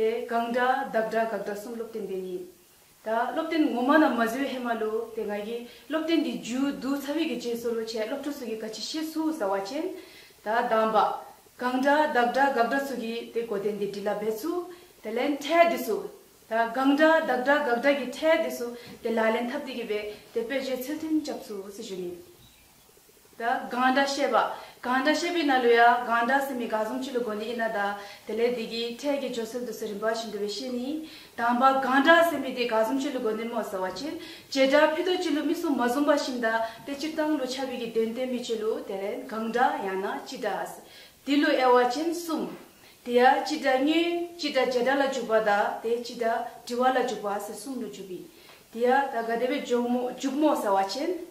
དེ་གང་འདྲ་བདག་འདྲ་དགག་འདྲ་གསུམ་བློ་བརྟན་པས་ཡིན། ད་བློ་བརྟན་ངོ་མ་རྣམས་མ་བཟོད་ཧེ་མ་ལོ་དེ་ང་ཡིས་བློ་བརྟན་འདི་རྒྱུ་དུག་ཚ་བའི་གི་རྗེས་སོར་བྱས་བློ་གྲོས་ཚོ་གི་ག་ཅི་ཤེས་སུ་ཟ་བ་ཅན། ད་གདམས་པ། གང་འདྲ་བདག་འདྲ་དགག་འདྲ་ཚོ་གི་དེ་གོ་དེ་འདི་དྲི་ལ་འབད་ཚུལ་དེ་ལན་འཕྲལ་འདི་སུ། ད་གང་འདྲ་བདག་འདྲ་དགག་འདྲ་གི་འཕྲལ་འདི་སུ་དེ་ལ་ལན་ཐབས་དེ་གི་བས་དེ་དཔེ་བརྗོད་ཚུལ་མཐུན་བྱབ་ཚུལ་སུ་བཞུ་ནི། ད་གང་འདྲ་བཤད་པ། གང་འདྲ་བཤད་པའི་ན་ལོ་ཡ། གང་འདྲ་སེམས་མི་དགའ་གསུམ་ཆུ་ལུ་དགོ་ནི་ཡིན་ན་ད། དེ་ལས་འདི་གི་འཕྲལ་གྱི་ཇོ་སེར་དུ་སེར་རིན་པ་བཞིན་འདུ་བའི་ཤེས་ནི། དང་བ། གང་འདྲ་སེམས་མི་དེ་དགའ་གསུམ་ཆུ་ལུ་དགོ་ནི་མོ་ཟེར་བ་ཕྱིར། བྱེ་བྲག་ཕི་དོ་ཅི་ལུ་མི་གསུམ་མ་བཟུང་བ་བཞིན་ད། དེ་སྤྱིར་བཏང་ལུ་ཆ་བི་གི་བདེན་དོན་མི་ཆུ་ལུ་དེ་ལན་གང་འདྲ་ཡང་ན་ཅི་འདྲ་ཨ། དེ་ལུ་ཨེ་བ་ཅན་གསུམ། དེ་ཡ་ཅི་འདྲ་སྙོན། ཅི་འདྲ་བྱེ་བྲག་ལ་འཇུག་པ་ད། དེ་ཅི་འདྲ་འདྲི་བ་ལ་འཇུག་པ་ཟེར་གསུམ་ལུ་འཇུག་གི། དེ་ཡ་ད་ག་དེ་བའི་འཇུག་མོ་ཟེར་བ་ཕྱིར།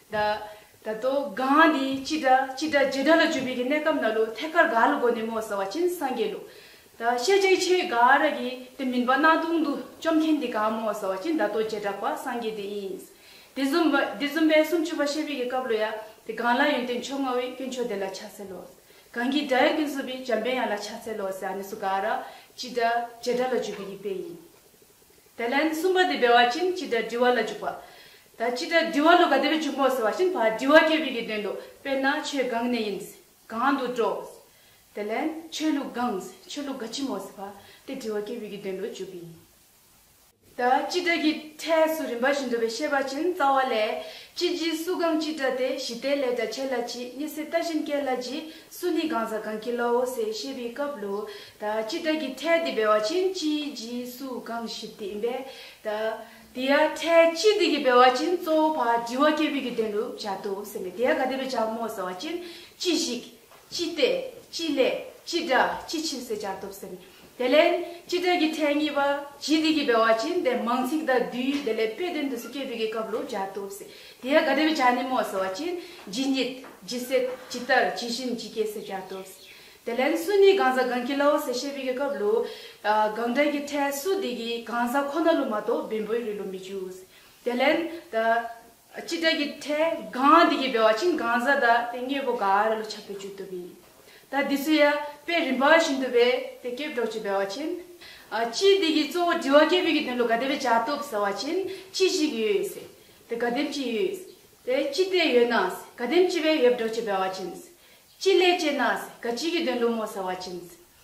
ད་ད་དོ་གངས་འདི་ཅི་སྒྲ་ཅི་སྒྲ་རྗེས་འབྲང་ལ་བཅོས་པའི་གི་གནས་སྐབས་ན་ལོ་ཐད་ཀར་ག་ལ་དགོས་ནས་མོ་ཟ་བ་ཅིན་སངས་རྒྱས་ལུགས། ད་བཤད་བྱའི་ཆེ་ག་ར་གི་དེ་མིན་པ་སྣང་སྟོང་དུ་བཅོམ་མཁན་འདི་གང་མོ་ཟ་བ་ཅིན་ད་དོ་རྗེས་གྲགས་པ་སངས་རྒྱས་དེ་ཡིན། དེ་བཟུམ་བ་དེ་བཟུམ་པའི་སུམ་ཅུ་པ་བཤད་པའི་གི་སྐབས་ལོ་ཡ་དེ་གང་ལ་ཡོན་ཏན་མཆོག་མངའ་བའི་སྐྱོན་མཆོག་དེ་ལ་ཕྱག་འཚལ་ལོ། གང་གི་སྒྲ་ཡང་སྐྱོན་བཟོད་པའི་འཇམ་དཔལ་ཡང་ལ་ཕྱག་འཚལ་ལོ་ཟེར་ཨ་ནི་སུ་ག་ར་ཅི་སྒྲ་རྗེས་འབྲང་ལ་བཅོས་པའི་གི་དཔེ་ཡིན། དེ་ལན་གསུམ་པ་དེ་སྦས་བ་ཅན་ཅི་སྒྲ་འདྲི་བ་ལ་འཇུག་པ། ད་ཅི་སྒྲ་འདྲི་བ་ལོ་ག་དེ་བས་འཇུག་མོ་ཟེར་བ་བཞིན་བ་འདྲི་བ་སྐྱེ་བའི་གི་དོན་ཏོ་དཔེར་ན་ཆོས་གང་ནས་ཡིན། གང་དུ་འགྲོ། དེ་ལན་ཆོས་ལུགས་གང། ཆོས་ལུགས་ག་ཅི་མོ་ཟེར་བ་དེ་འདྲི་བ་སྐྱེ་བའི་གི་དོན་ཏོ་འཇུག་གི་ཡིན། ད་ཅི་སྒྲ་གི་ཕྲད་སུ་རིམ་པ་བཞིན་འགྲོ་བའི་ཤེས་པ་ཅན་རྩ་བ་ལས། ཅི་བགྱི་སུ་གང་ཅི་སྒྲ་དེ་བཞི་ལྟའི་ལས་སྒྲ་བྱས་ལ་བགྱི་གཉིས་སེ་ལྟ་བཞིན་སྐྱེ་ལ་བགྱི་སུ་ནི་གང་ཟག་གང་གིས་ལའོ་སེ་བཤད་པའི་སྐབས་ལོ། ཅི་བདག་གིས་ཐལ་ཏེ་འབེལ་བ་ཅན་ཅིའི་རྗེས་སུ་གང་ཞིབ་དེ་ཡིན་པས། དེ་ཡང་ཐལ་ཅི་བདག་གིས་འབེལ་བ་ཅན་གཙོ་བོ་བར་འདྲི་བ་སྐྱེས་བུའི་དགེ་འདུན་དུ་བྱ་དོ་སེམས་པས་དེ་ཡང་ག་དེ་བས་བྱ་མོ་ཟ་བ་ཅན་ཅི་ཞིག། ཅི་སྟེ། ཅི་སླད། ཅི་སྒྲ། ཅི་ཕྱིར་ཟེར་བྱར་དོ་སེམས་པས། དེ་ལས། སྤྱི་དོན་གྱི་མཚན་ཉིད་པ། ཇི་སྟེ་གྱི་འབེལ་བ་ཅན་དེ་མང་ཚིག་དང་བསྡུས་ཡུལ་དེ་ལས་དཔེ་དོན་དུ་སུ་སྐྱེས་བུ་གའི་སྐབས་ལུགས་སྦྱར་དུ་བསྲེ། དེ་ཡང་དགའ་དད་པའི་བྱ་ནི་མོ་ཟེར་བ་ཅན། ཇི་སྙེད། ཇི་སྲིད། ཇི་ལྟར། ཇི་བཞིན་ཇི་སྐྱེས་སུ་སྦྱར་དུ་བསྲེ། དེ་ལན། སུ་ནི་གང་ཟག་གང་གི་ལའོ་ཟེར་ཤེས་བུ་གའི་སྐབས་ལུགས། གང་དག་གི་ཕྲད་སུ་དེ་གི་གང་ཟག་ཁོ་ན་ལུགས་མ་གཏོགས་བེམ་པོའི་རིགས་ལུགས་མི་འཇུག། དེ་ལན། སྤྱི་དགྲ་ཀྱི་ཁྲལ་གང་དེ་ཀྱི་བེ་བ་ཅིང་གང་ཟ་དག་དེ་ངེད་བོ་ག་ར་ལོ་ཆགས་པའི་བཅུད་དུ་བི། དག་འདི་སུ་ཡ་པའི་རིམ་པ་བཞིན་དུ་བེ་དེ་སྐྱེ་བྲོག་ཅིང་བེ་བ་ཅིན། སྤྱི་དེ་ཀྱི་གཙོ་བོ་དྲི་བ་སྐྱེ་བི་ཀྱི་དོན་ལུ་ག་དེ་བེ་བྱ་སྟོབ་ཟེར་བ་ཅིན་ཅི་ཞིག་ཡོད་ཡོད་སེ། དེ་ག་དེམ་ཅི་ཡོད་ཡོད་སེ། དེ་སྤྱི་དེ་ཡོད་ན་སེ་ག་དེམ་ཅི་བེ་ཡོད་བྲོག་ཅིང་བེ་བ་ཅིན། སྤྱི་ལས་སྐྱེ་ན་སེ་ག་སྤྱི་ཀྱི་དོན་ལུ་མོ་ཟེར་བ་ཅིན།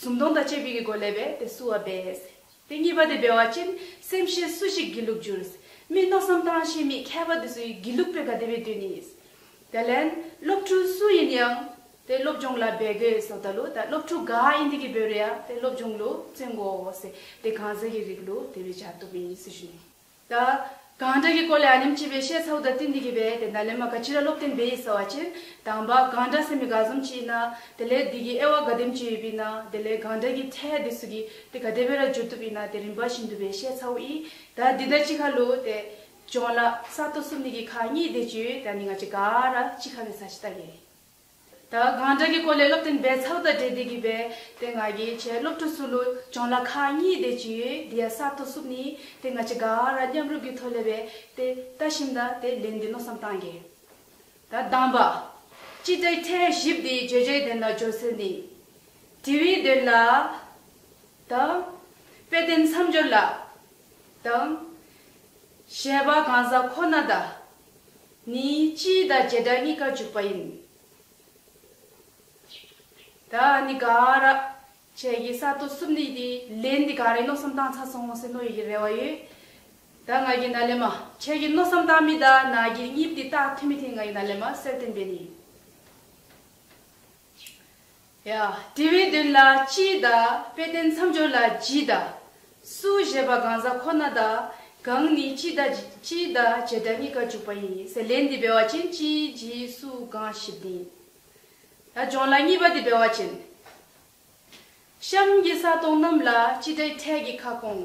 ཟུང་སྟོང་དང་བཅས་པའི་གི་གོ་ལས་པས་དེ་བསུ་བ་འབད། དེ་གཉིས་པ་དེ་འབད་བ་ཅན་སེམས་ཤེས་སུ་ཞིག་དགེ་ལུགས་འགྱུར། མི་རྣོ་བསམ་སྟངས་ཤེས་མི་མཁས་པ་དེ་ཚོ་ཡི་དགེ་ལུགས་པའི་དགའ་དད་པའི་དུས་ནི། དེ་ལན། སློབ་ཕྲུག་སུ་ཡིན་ཡང། དེ་སློབ་སྦྱོང་ལ་འབད་དགོས་སོ་ད་ལུ་ད་སློབ་ཕྲུག་ག་ཡིན་དེ་གི་འབོད་རེ་ཡ་དེ་སློབ་སྦྱོང་ལུ་བཙོན་དགོ་སེ་དེ་གང་ཟེ་གི་རིགས་ལུ་དེ་བས་བྱ་ཐུབ་མི་ཡིན་སུ་ཞུ་ནི། ད། གང་འདྲ་གི་སྐོར་ལས་ཨ་ཉམས་སྐྱིད་པས་བཤད་ཚ་བོ་ད་ཏི་འདི་གི་བས་དེ་འདྲ་ལས་མ་ག་ཅི་ར་བློ་བརྟན་བས་ཡིད་ཟ་བ་ཅན་དང་བ་གང་འདྲ་སེམས་མི་ག་ཟོམ་ཅི་ཡིན་ན་དེ་ལས་འདི་གི་ཨེ་བ་ག་དེམ་ཅི་ཡོད་པིན་ན་དེ་ལས་གང་འདྲ་གི་ཐད་དེ་སུ་གི་དེ་ག་དེ་བས་ར་བསྒྱུར་ཐུབ་ཡིན་ན་དེ་རིན་པ་བཞིན་དུ་བས་བཤད་ཚ་བོ་ཡིས་ད་འདི་འདྲ་ཅི་ག་ལོ་དེ་བྱོང་ལ་ས་ཏོ་སུ་མི་གི་ཁ་གཉིས་དེ་ཅུས་ད་ནི་ང་ཅི་ག་ར་ཅི་ག་བས་ས་ཅི་ད་གི། ད་གང་འདྲ་གི་གོ་ལའི་སློབ་ཐེངས་འབད་ཚགས་དང་འབྲེལ་འདི་གི་བས་དེ་སྔ་གི་བྱས་སློབ་ཕྲུག་སུ་ལུ་ཅོང་ལ་ཁ་གཉིས་དེ་ཅི་ཡོད་དེ་ཡ་གསར་ཐོ་སུབ་ནི་དེ་སྔ་ཅི་ག་ར་མཉམ་རུབ་གི་ཐོ་ལེ་བས་དེ་ལྟ་ཞིམ་ད་དེ་ལན་འདི་མནོ་བསམ་བཏང་གི་ད་གདམས་པ། ཅི་ད་ཡི་ཐེངས་བཞིབ་དེ་བརྗོད་བྱའི་དོན་ལ་སྦྱོར་ཚུལ་ནི། དྲི་བའི་དོན་ལ། དང། དཔེ་བསྟན་མཚམས་སྦྱོར་ལ། དང། བཤད་པ་གང་ཟག་ཁོ་ན་ད། ནི་སྤྱིའི་དང་བྱེ་བྲག་གཉིས་ཀ་འཇུག་པ་ཡིན། ད་ནི་ག་ར། བྱས་ཀྱི་ས་དོ་སུབ་ནི་དེ་ལས་ནི་ག་རེ་མནོ་བསམ་བཏང་ཚ་སོང་སེ་ནོ་ཡོད་ཀྱི་རེ་བ་ཡོད། ད་ང་གི་ན་ལེ་མ། བྱས་ཀྱི་མནོ་བསམ་བཏང་མི་ད་ན་གྱི་གཉིས་དེ་རྟགས་མཐུན་མི་དེ་ང་གི་ན་ལེ་མ་སེར་བསྟན་པའི་ནི། ཡ། དྲི་བའི་དོན་ལ་ཅིའི་བདག། དཔེ་བསྟན་མཚམས་སྦྱོར་ལ་ཇིའི་བདག། སུ་ཞེས་པ་གང་ཟག་ཁོ་ན་བདག། གང་ནི་ཅིའི་བདག། ཅིའི་བདག་བྱེད་སྒྲ་གཉིས་ཀ་འཇུག་པ་ཡིན། སེ་ལེ་འདི་འབེལ་བ་ཅན་ཅིའི་ཇི་སུ་གང་བཞི་བདེན། ད་སྦྱོང་ལ་གཉིས་པ་འདི་འབེལ་བ་ཅན། གཤམ་གྱི་ས་སྟོང་རྣམས་ལ་ཅི་སྒྲའི་ཕྲད་ཀྱི་ཁ་སྐོང།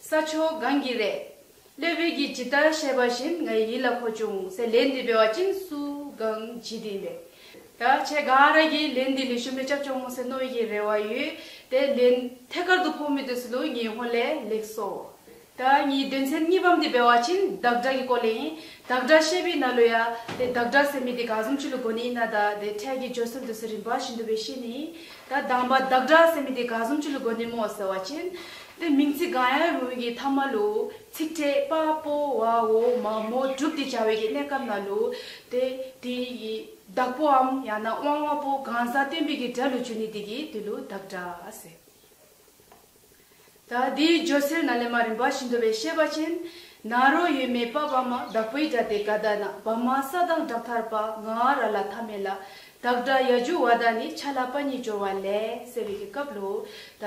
ས་ཕྱོགས་གང་གི་རེད། ཀླད་བོད་ཀྱིས་ཇི་ལྟར་བཤད་པ་བཞིན་ང་ཡིད་ལ་འཁོར་བྱུང་ཟེར་ལས་འདི་སྤེལ་བ་ཅིན་སུ་གང་བྱེད་དེ་ཡིན་པས། ད་ཆེ་ག་ར་གིས་ལས་འདི་ལས་ཞུ་མེད་སྐྱབས་བཅོ་ངོ་ཟེར་ནོ་ཡི་རེ་བ་ཡོད་དེ་ལས་ཐད་དཀར་དུ་ཕོག་མི་དུས་སུ་ལུ་ངེ་ཧོ་ལས་ལེགས་སོ། ད་ངའི་དོན་ཚན་གཉིས་པའམ་འདི་སྤེལ་བ་ཅིན་བདག་སྒྲ་གི་སྐོར་ལས་ཡིན། བདག་སྒྲ་བཤད་པའི་ན་ལོ་ཡ། དེ་བདག་སྒྲ་ཟེར་མི་དེ་ག་གསུམ་ཅི་ལུ་གོ་ནི་ཡིན་ན་ད་དེ་ཕྲད་ཀྱི་བརྗོད་སྲོལ་དུས་སུ་རིམ་པ་བཞིན་དུ་བས་ཤེས་ནི་ཡིན། ད་བདག་འབའ་བདག་སྒྲ་ཟེར་མི་དེ་ག་གསུམ་ཅི་ལུ་གོ་ནི་མོ་ཟེར་བ་ཅིན། དེ་མིང་ཚིག་གང་ཡང་རུང་བའི་གྱི་ཐ་མ་ལོ། ཚིག་ཕྲད་དཔའ་བོ་བའོ་མ་མོ་གྲུབ་ཏེ་བྱ་བའི་གྱི་གནས་སྐབས་ན་ལོ། དེ་དེའི་གྱི་བདག་པོའམ་ཡང་ན་དབང་བ་པོ་གང་ཟག་བསྟན་པའི་གྱི་སྒྲ་ལུ་ཆུ་ནི་དེ་གྱི་དེ་ལུ་བདག་སྒྲ་ཟེར། ད་དེའི་སྦྱོར་སེར་ན་ལེ་མ་རིན་པ་བཞིན་དུ་བའི་ཤེས་པ་ཅན། ན་རོ་ཡོད་མེད་དཔའ་བ་མ་བདག་པོའི་སྒྲ་དེ་ག་ད་ན་བ་མ་ས་དང་སྦྲགས་ཐར་པ་ང་ར་ལ་ཐ་མལ་ལ་བདག་སྒྲ་ཡ་འཇུག་བ་ད་ནི་ཆ་ལ་པ་ཉིད་སྦྱོར་བ་ལས་ཟེར་བའི་གྱི་སྐབས་ལོ། ད།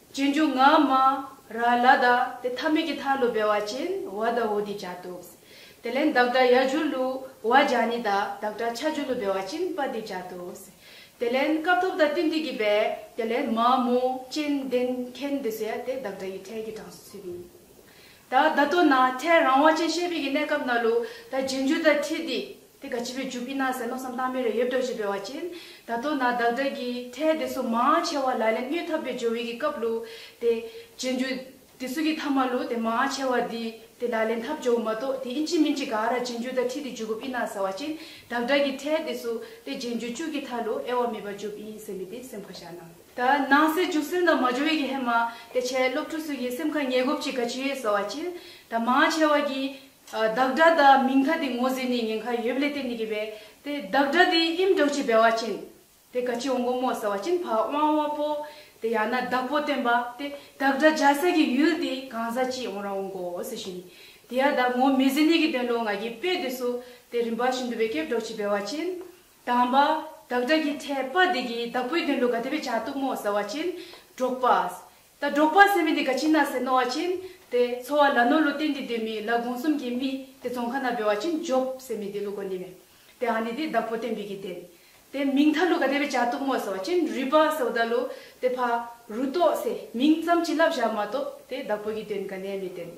ཅེས་མཇུག་ངག་མ། ར་ལ་དྭ་དེ་ཐ་མི་གི་ཐ་ལུ་བེ་བ་ཅན་བ་དྭ་བོ་དེ་བྱ་ཏུགས། དེ་ལན་བདག་སྒྲ་ཡ་འཇུ་ལུ་བ་བྱ་ནི་དྭ་བདག་སྒྲ་ཆ་འཇུ་ལུ་བེ་བ་ཅན་པ་དེ་བྱ་ཏུགས། དེ་ལན་སྐབས་ཐོབ་དྭ་ཏི་འདི་གི་བེ་དེ་ལན་མ་མོ་ཅན་བདེན་མཁན་དེ་སུ་ཡ་དེ་བདག་སྒྲ་ཡི་ཕྲལ་གི་གྲངས་སུ་ཚུད་པའི། དྭ་བདག་དོ་ན་ཕྲལ་རང་བ་ཅན་ཤེས་པའི་གི་གནས་སྐབས་ན་ལུ་དྭ་རྗེས་འཇུ་དྭ་ཐི་དེ། དེ་ག་བྱིས་པའི་ཇུ་པི་ན་ཟེར་མནོ་བསམ་བཏང་མེད་རེ་ཡོད་འདྲ་ཞེས་པའི་བ་ཅན། ད་དོ་ན་བདག་འདྲ་གི་ཐལ་དེ་སུ་མང་ཆེ་བ་ལ་ལན་སྨྱོས་ཐབས་པའི་ཇོ་བི་གི་སྐབས་ལུ་དེ། རྗེས་འཇུག་དེ་སུ་གི་ཐ་མ་ལུ་དེ་མང་ཆེ་བ་འདི་དེ་ལ་ལན་ཐབས་ཇོ་བི་མ་གཏོགས་དེ་ཨིན་ཅི་མིན་ཅི་ག་ར་རྗེས་འཇུག་ད་ཁྲི་དེ་འཇུག་གོ་པི་ན་ཟེར་བ་ཅན། བདག་འདྲ་གི་ཐལ་དེ་སུ་དེ་རྗེས་འཇུག་བཅུ་གི་ཐ་ལུ་ཨེ་བ་མེད་པ་འཇུ་བི་ཡིན་སེམས་མི་དེ་སེམས་ཁ་བཞག་ན། ད་ནང་སེ་འཇུག་སེམས་ད་མ་ཇོ་བི་གི་ཧེ་མ་དེ་ཆེ་སློབ་ཕྲུག་སུ་གི་སེམས་ཁ་ཉེ་གོབ་ཅི་ག་ཇི་ཡོད་ཟེར་བ་ཅན། ད་མང་ཆེ་བ་གི་བདག་སྒྲ་དང་མིང་མཐའ་དེ་ངོ་ཟེར་ནས་ཉེན་ཁ་ཡོད་བསླད་དེ་འདི་གི་བས་དེ་བདག་སྒྲ་དེ་ཨིམ་སྒྲོག་ཆེ་བས་བ་ཅན་དེ་ག་ཅི་འོང་གོ་མོ་ཟེར་བ་ཅན་བ་དབང་བ་པོ་དེ་ཡང་ན་བདག་པོ་སྟོན་པ་དེ་བདག་སྒྲ་སྦྱར་ས་གི་ཡུལ་དེ་གང་ཟག་ཅི་འོང་ར་འོང་གོ་ཟེར་བཞིན་དེ་ཡང་བདག་ངོ་མི་ཟེར་ནས་གི་དོན་ལོ་ང་གི་དཔེ་དེ་སོ་དེ་རིམ་པ་བཞིན་དུ་བས་སྐད་སྒྲོག་ཆེ་བས་བ་ཅན་དང་བ་བདག་སྒྲ་གི་ཕྲད་པ་དེ་གི་བདག་པོའི་དོན་ལོ་ག་དེ་བས་བྱ་གཏུག་མོ་ཟེར་བ་ཅན་སྒྲོག་པ་ད་སྒྲོག་པ་སེམས་མེད་དེ་ག་ཅིན་ན་སེ་ནོ་བ་ཅིན་དེ་ཚོ་བ་ལ་ནོ་ལོ་ཏེན་དེ་དེ་མི་ལ་དགོང་གསུམ་གྱི་མི་དེ་ཚོ་མཁའ་ན་བེ་བ་ཅིན་ཇོབ་སེ་མི་དེ་ལུ་གོ་ནི་མེ་དེ་ཧ་ནི་དེ་བདག་པོ་ཏེན་བི་གི་དེན་དེ་མིང་ཐ་ལུ་ག་དེ་བེ་ཅ་ཏུག་མོ་སེ་བ་ཅིན་རུས་པ་སེ་བ་ད་ལུ་དེ་ཕ་རུ་ཏོ་སེ་མིང་ཙམ་གྱི་ལབ་བཞག་མ་ཏོ་དེ་བདག་པོ་གི་དེན་ག་ནེ་མེ་དེན།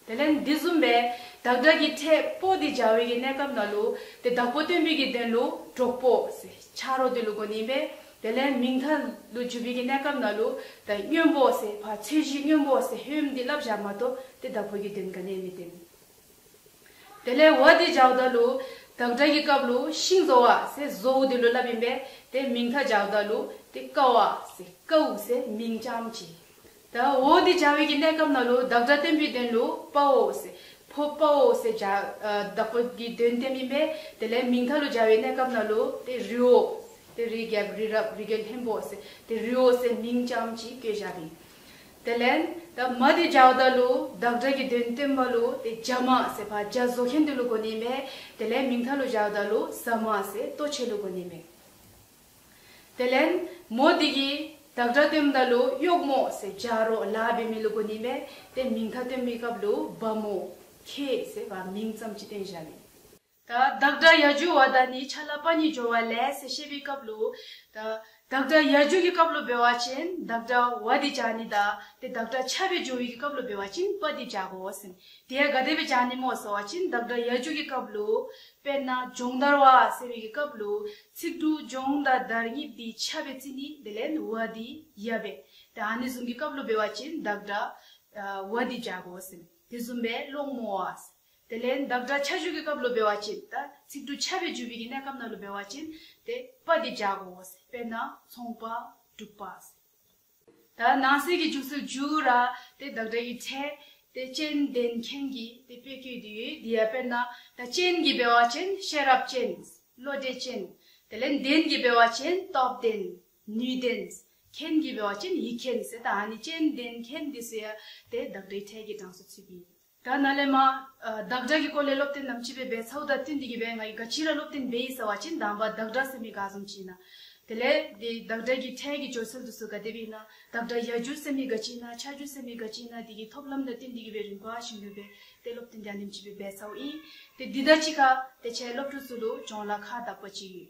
དེ་ལན་འདི་གསུམ་པས་བདག་སྒྲ་ཀྱི་ཕྲད་པོ་དེ་འཇའ་འོད་ཀྱི་གནས་སྐབས་ན་ལུག་དེ་བདག་པོ་སྟོན་པིག་གི་དོན་ལུག་གྲོགས་པོ། ཕྱག་རོགས་དེ་ལུག་གོ་ནིང་པས་དེ་ལན་མིང་མཐའ་ལུག་འཇུ་བིག་གི་གནས་སྐབས་ན་ལུག་དང་སྨྱོན་པོ། བ་ཚོས་གཞི་སྨྱོན་པོ་ཧེའུམ་དེ་བསླབ་བཞག་མ་གཏོགས་དེ་བདག་པོ་ཀྱི་དོན་ག་ནས་མི་བསྟན། དེ་ལན་བ་དེ་འཇའ་བདག་ལུག་བདག་སྒྲ་ཀྱི་སྐབས་ལུག་ཤིང་བཟོ་བ། བཟོ་བོ་དེ་ལུག་བསླབ་ཡིན་པས་དེ་མིང་མཐའ་འཇའ་བདག་ལུག་དེ་ཀ་བ། ཀའུ། མིང་ཅམ་གྱིས་ད་འོ་དེ་བྱ་བའི་གྱི་གནས་སྐབས་ན་ལོ་བདག་སྒྲ་བསྟན་པའི་དོན་ལོ་པའོ་ཟེ། ཕོ་པའོ་ཟེ་བྱ། བདག་པོ་དེའི་དོན་བསྟན་མིན་པས་དེ་ལས་མིང་མཐའ་ལོ་བྱ་བའི་གནས་སྐབས་ན་ལོ་དེ་རིའོ་ཟེ། དེ་རིའི་རྒྱལ་པོ་རི་རབ་རི་རྒྱལ་ལྷན་པོ་ཟེ་དེ་རིའོ་ཟེ་མིང་ཅམ་ཅིག་བསྐྱོད་བྱ་དེ། དེ་ལན། ད་མ་དེ་བྱ་བ་དག་ལོ་བདག་སྒྲ་གྱི་དོན་བསྟན་པ་ལོ་དེ་བྱ་མ་ཟེ་བ་བྱ་བཟོ་མཁན་དོན་ལོ་དགོ་ནས་མེད་དེ་ལན་མིང་མཐའ་ལོ་བྱ་བ་དག་ལོ་ཟ་མ་ཟེ་ལྟོ་འཕྱེ་ལོ་དགོ་ནས་མེད། དེ་ལན། མོ་འདི་གིས་བདག་སྒྲ་དོན་མདའ་ལུ་གཡོག་མོ་ཟེ་བྱ་རོ་ལ་བེ་མི་ལུ་གོ་ནི་བེ་དེ་མིང་ཐ་དོན་མི་གབ་ལུ་བ་མོ་ཁེ་ཟེ་བ་མིང་ཙམ་ཅི་དོན་བྱ་ནི། ད་བདག་སྒྲ་ཡ་ཇུ་བ་ད་ནི་ཆ་ལ་པ་ཉི་སྦྱོར་བ་ལས་ཟེ་བཤད་བི་གབ་ལུ། ད་བདག་སྒྲ་ཡ་ཇུ་གི་གབ་ལུ་བེ་བ་ཅན་བདག་སྒྲ་བ་དི་བྱ་ནི་ད་དེ་བདག་སྒྲ་ཆ་བེ་ཇོ་བི་གི་གབ་ལུ་བེ་བ་ཅན་པ་དི་བྱ་གོ་ཟེ་ནི་དེ་ཡ་ག་དེ་བེ་བྱ་ནི་མོ་ཟེ་བ་ཅན་བདག་སྒྲ་ཡ་ཇུ་གི་གབ་ལུ། དཔེར་ན་སྦྱོང་བརྡར་བ་ཟེ་བི་གི་གབ་ལུ་ཚིག་འབྲུ་སྦྱོང་དང་བརྡར་ཉིད་དེ་འཆད་པའི་ཚིག་ནི་དེ་ལན་བ་དེ་ཡབ་པས་དེ་ཨ་ནེ་ཟུང་གི་སྐབས་ལོ་བེ་བ་ཅན་བདག་སྒྲ་བ་དེ་བྱ་དགོ་སེམས་དེ་ཟུམ་པས་སློང་མོ་བ། དེ་ལན་བདག་སྒྲ་འཆད་བརྗོད་ཀྱི་སྐབས་ལོ་བེ་བ་ཅན་དང་ཚིག་འབྲུ་འཆད་པའི་བརྗོད་པའི་གནས་སྐབས་ན་ལོ་བེ་བ་ཅན་དེ་པ་དེ་བྱ་དགོ་སེམས་པས་ན་ཚོང་པ་དྲུག་པ། ད་ནང་གསེས་ཀྱི་བཅུ་ཚོད་བཅུ་ར་དེ་བདག་སྒྲ་ཡིག་ཕྲད་དེ་སྤྱན་ལྡན་མཁན་གྱི་དེ་དཔེ་བསྐྱོད་རྒྱུ་ཡོད་འདི་ཡ་དཔེར་ན་ད་སྤྱན་གྱི་སྦལ་བ་ཅན་ཤེས་རབ་ཅན། བློ་གྲོས་ཅན། དེ་ལན་ལྡན་གྱི་སྦལ་བ་ཅན་སྟོབས་ལྡན། ནུས་ལྡན། མཁན་གྱི་སྦལ་བ་ཅན་ཡིག་མཁན་ཟེར་ད་ནི་སྤྱན་ལྡན་མཁན་འདི་ཟེར་ཡ་དེ་བདག་སྒྲའི་ཕྲད་ཀྱི་གྲངས་སུ་ཚུད་ཀྱི་ཡོད། ད་ན་ལེ་མ། བདག་འདྲ་གི་སྐོར་ལས་བློ་བརྟན་དམ་ཅི་བས་སྦས་ཚའུ་དག་ཏིན་འདི་གི་བས་ང་ཡི་ག་ཅི་ར་བློ་བརྟན་སྦས་ཡིན་ས་བ་ཅིན་དང་བ་བདག་འདྲ་སེ་མི་ག་ཟུམ་ཅིན་ན། དེ་ལས། དེ་བདག་འདྲ་གི་ཕྲན་གི་སྦྱོར་ཚུལ་དུ་སུ་ག་དེ་བས་ན་བདག་འདྲ་གཞག་རྒྱུ་སེ་མི་ག་ཅིན་ན་ཆགས་རྒྱུ་སེ་མི་ག་ཅིན་ན་འདི་གི་ཐོབ་ལམ་དག་ཏིན་འདི་གི་བས་རིམ་པ་བཞིན་ཡོད་པས་དེ་བློ་བརྟན་དམ་ཅི་བས་སྦས་ཚའུ་ཨིན། དེ་འདི་དག་ཅི་ག། དེ་ཆད་སློབ་ཕྲུག་ཚུལ་ལུགས་སྦྱོང་ལ་ཁ་བཏགས་པ་ཅི་ཡོད།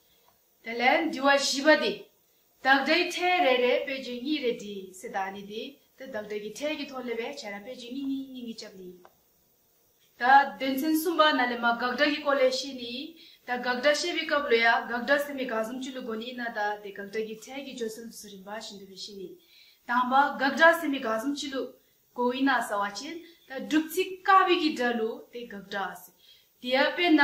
དེ་ལས་འདུལ་བ་བཞི་པ་འདི། བདག་སྒྲའི་ཕྲད་རེ་རེ་དཔེ་བརྗོད་གཉིས་རེ་བྲིས་སེ་ད་ནི་འདི་དེ་བདག་སྒྲ་གི་ཕྲད་ཀྱི་ཐོག་སླེབས་པའི་ཆ་ར་དཔེ་བརྗོད་གཉིས་གཉིས་གཉིས་གཉིས་སྐྱབས་ནི། ད་དོན་ཚན་གསུམ་པ་ན་ལས་མ་དགག་སྒྲ་གི་སྐོར་ལས་བཤད་ནི། ད་དགག་སྒྲ་བཤད་པའི་སྐབས་ལོ་ཡ་དགག་སྒྲ་ཟེར་མི་དགག་གསུམ་ཅི་ལུགས་གོ་ནི་ན་ད་དེ་དགག་སྒྲ་གི་ཕྲད་ཀྱི་བརྗོད་ཚུལ་སུ་རིམ་པ་བཞིན་འདུལ་བའི་བཤད་ནི། དང་པ་དགག་སྒྲ་ཟེར་མི་དགག་གསུམ་ཅི་ལུགས་གོ་བའི་ན་ཟ་བ་བྱེད་ད་སྒྲུབ་ཚིག་ཀ་བི་གི་སྒྲ་ལུགས་དེ་དགག་སྒྲ། དེ་ཡ་དཔེར་ན།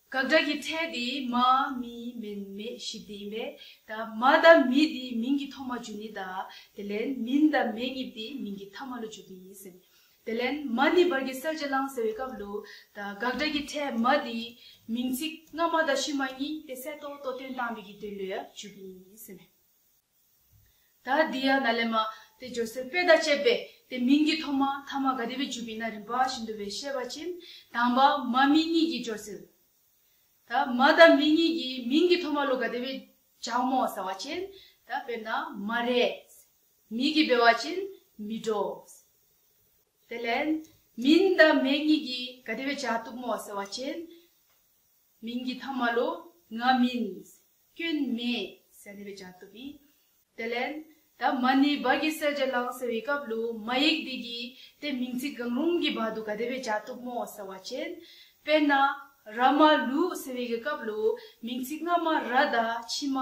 དགག་སྒྲ་ཀྱི་ཕྲད་དེ་མ་མི་མིན་མེད་བཞི་དེ་ཡིན་པས་ད་མ་དང་མི་དེ་མིང་གི་ཐོག་མ་བརྗོད་ནི་ད་དེ་ལན་མིན་དང་མེད་ངེས་དེ་མིང་གི་ཐ་མ་ལོ་བརྗོད་དོན་ཡིན་སེམས། དེ་ལན་མ་ནི་བར་གྱི་གསལ་བྱེད་བླང་ཟེར་བའི་སྐབས་ལོ། ད་དགག་སྒྲ་ཀྱི་ཕྲད་མ་དེ་མིང་ཚིག་སྔ་མ་དང་ཕྱི་མ་གཉིས་དེ་གསལ་རྟོགས་རྟོགས་དོན་སྟངས་མིག་གི་དོན་ལོའི་བརྗོད་དོན་ཡིན་སེམས། ད་ལྡི་ཡ་ན་ལེ་མ། དེ་ཇོ་སེར་པད་ཟླ་བཅས་པས་དེ་མིང་གི་ཐོག་མ་དྷརྨ་དགའ་བདེ་བས་བརྒྱུད་པའི་ན་རིམ་པ་བཞིན་དུ་བའི་བཤད་པ་ཅན། དང་བ་མ་མི་གཉིས་ཀྱིས་ཇོ་སེར། ད་མ་ད་མི་གཉིས་ཀྱིས་མིང་གི་ཐོག་མ་ལོ་དགའ་བདེ་བས་ཇག་མོ་ཟ་བ་ཅན། ད་དཔེར་ན་མ་རེས། མི་གིས་སྦལ་བ་ཅན། མི་འགྲོ། དེ་ལན། མིན་ད་མེ་གཉིས་ཀྱིས་དགའ་བདེ་བས་ཇག་སྟུག་མོ་ཟ་བ་ཅན། མིང་གི་ཐང་མ་ལོ་ང་མིན། སྐྱོན་མེད་ཟེར་ནུས་པའི་བྱ་ཐུབ་ཡིན། དེ་ལན། ད་མ་ནི་བ་གི་སེར་བྱེད་ལང་ཟེར་བའི་སྐབས་ལུ་མ་ཡིག་འདི་གིས་དེ་མིང་ཚིག་གང་རུང་གི་བར་དུ་ག་དེ་བས་བྱ་ཐུབ་མོ་ཟེར་བ་བྱེད། དཔེར་ན། ར་མ་ལུ་ཟེར་བའི་གི་སྐབས་ལུ་མིང་ཚིག་སྔ་མ་ར་དང་ཕྱི་མ་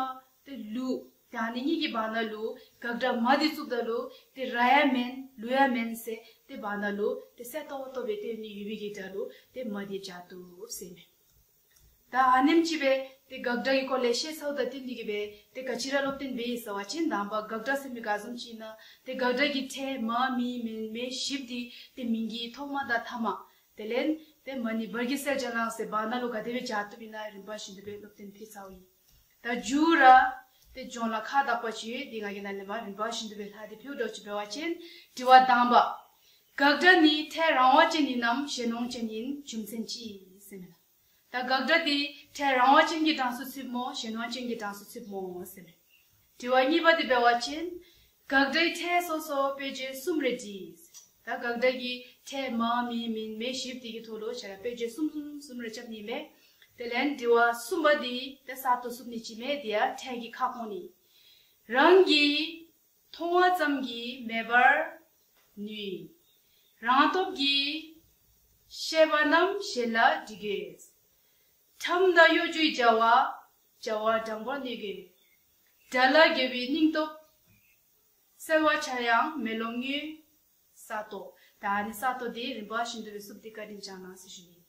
དེ་ལུ། དེ་ཧ་ནི་གཉིས་ཀྱི་བར་ན་ལུ་གག་སྒྲ་མ་དེ་བཙུགས་ད་ལུ་དེ་ར་ཡ་མན་ལུ་ཡ་མན་ཟེར་དེ་བར་ན་ལུ་དེ་གསལ་ཐོག་བ་ཐོབ་པའི་དེ་ནི་ཡུལ་མིང་གི་སྒྲ་ལུ་དེ་མ་དེ་བྱ་ཐུབ་ཟེར་ནུས། ད་ཨ་ནེམ་ཅི་བེ། དེ་དགག་སྒྲ་ཡི་སྐོར་ལས་བཤད་ཚའུ་ད་ཏི་འདི་གི་བེ། དེ་ག་ཅི་ར་སློབ་བསྟན་བེ་ཡི་ཟེར་བ་སྤྱན་དང་བ་དགག་སྒྲ་སེམས་མི་དགག་གཟུང་ཅི་ན། དེ་དགག་སྒྲ་གི་ཕྲད་མ་མི་མེན་མེ་ཞིབ་འདི་དེ་མིན་གི་ཐོག་མ་དང་ཐ་མ། དེ་ལན། དེ་མ་ནི་བར་གི་སེར་སྦྱར་ལངས་སེ་བ་ན་ལོ་ག་དེ་བེ་བྱ་ཐུབ་ཡིན་ན་རིམ་པ་བཞིན་དུ་བེ་སློབ་བསྟན་འཕེལ་ཚའུ་ཡིན། ད་འགྱུར་ར། དེ་ལྗོངས་ལ་ཁ་བཏགས་པ་ཆེ་འདི་ང་གི་ན་ནི་མ་རིན་པར་ཞི་འདུ་བའི་ལྷ་དེ་ཕེའུ་སྒྲོག་ཅིག་བེ་བ་ཅན་དྲི་བ་གདངས་པ། དགག་སྒྲ་ནི་ཕྲད་རང་བ་ཅན་ཡིན་ནམ་ཞེ་ནོངས་ཅན་ཡིན་རྒྱུ་མཚན་ཅི། ཟེར་མེད། ད་དགག་སྒྲ་དེ་ཕྲད་རང་བ་ཅན་གྱི་གྲངས་སུ་ཚུད་མོ་ཞེ་ནོངས་ཅན་གྱི་གྲངས་སུ་ཚུད་མོ་ཟེར་མེད། དྲི་བ་གཉིས་པ་འདི་པའི་བ་ཅན། དགག་སྒྲའི་ཕྲད་སོ་སོ་དཔེ་བརྒྱད་གསུམ་རེ་བྲིས། ད་དགག་སྒྲ་གི་ཕྲད་མ་མི་མིན་མེད་ཞིབ་དེ་གི་ཐོག་ལོ་བྱ་ར་དཔེ་བརྒྱད་གསུམ་གསུམ་གསུམ་རེ་ཁྱབ་ནི་མེད། དེ་ལན་དྲི་བ་གསུམ་པ་འདི་དེ་གསར་དུ་གསུབ་ནི་ཅི་མེད་དེ་ཡང་ཕྲད་གི་ཁ་སྐོང་ནི། རང་གི་མཐོང་བ་ཙམ་གྱི་མེད་པར་ནུས། རང་སྟོབས་ཀྱི་ཤེས་པ་རྣམས་གཞན་ལ་འདྲི་དགོས། ཁྲམ་མདའ་གཡོ་སྒྱུའི་རྒྱལ་བ། རྒྱལ་བ་སྦྲང་བ་གནས་གི་མེད། དགྲ་ལ་རྒྱལ་བའི་སྙིང་སྟོབས། གསལ་བར་བྱ་ཡང་མེ་ལོང་ངོས། ས་རྟོག། ད་ནི་ས་རྟོག་དེ་རིམ་པ་བཞིན་དུ་བསུབ་སྟེ་བཀའ་དྲིན་བསྐྱངས་གནང་ཟེར་ཞུ་ཡིན།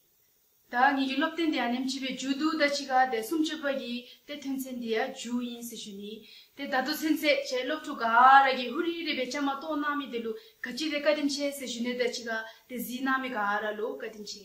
བདག་ཉིད་ཀྱི་སློབ་སྟོན་དེ་ཡང་ནེམ་ཆེ་བའི་རྒྱུ་འདུག་ད་ཕྱི་ག་དེ་སུམ་བཅུ་པ་ཀྱི་དེ་ཐོན་ཚེ་འདི་ཡང་རྒྱུ་ཡིན་ཟེར་ཞུ་ནི། དེ་ད་དུ་ཚན་ཚད་བྱས་སློབ་ཕྲུག་ག་ར་གི་ཧུ་རི་རེད་པའི་ཅང་མ་གཏོགས་གནང་མི་དེ་ལུགས་ག་ཅི་རེད་བཀའ་དྲིན་ཆེ་ཟེར་ཞུ་ནི་ད་ཕྱི་ག་དེ་གཟིགས་གནང་མི་ག་ར་ལུགས་བཀའ་དྲིན་ཆེ།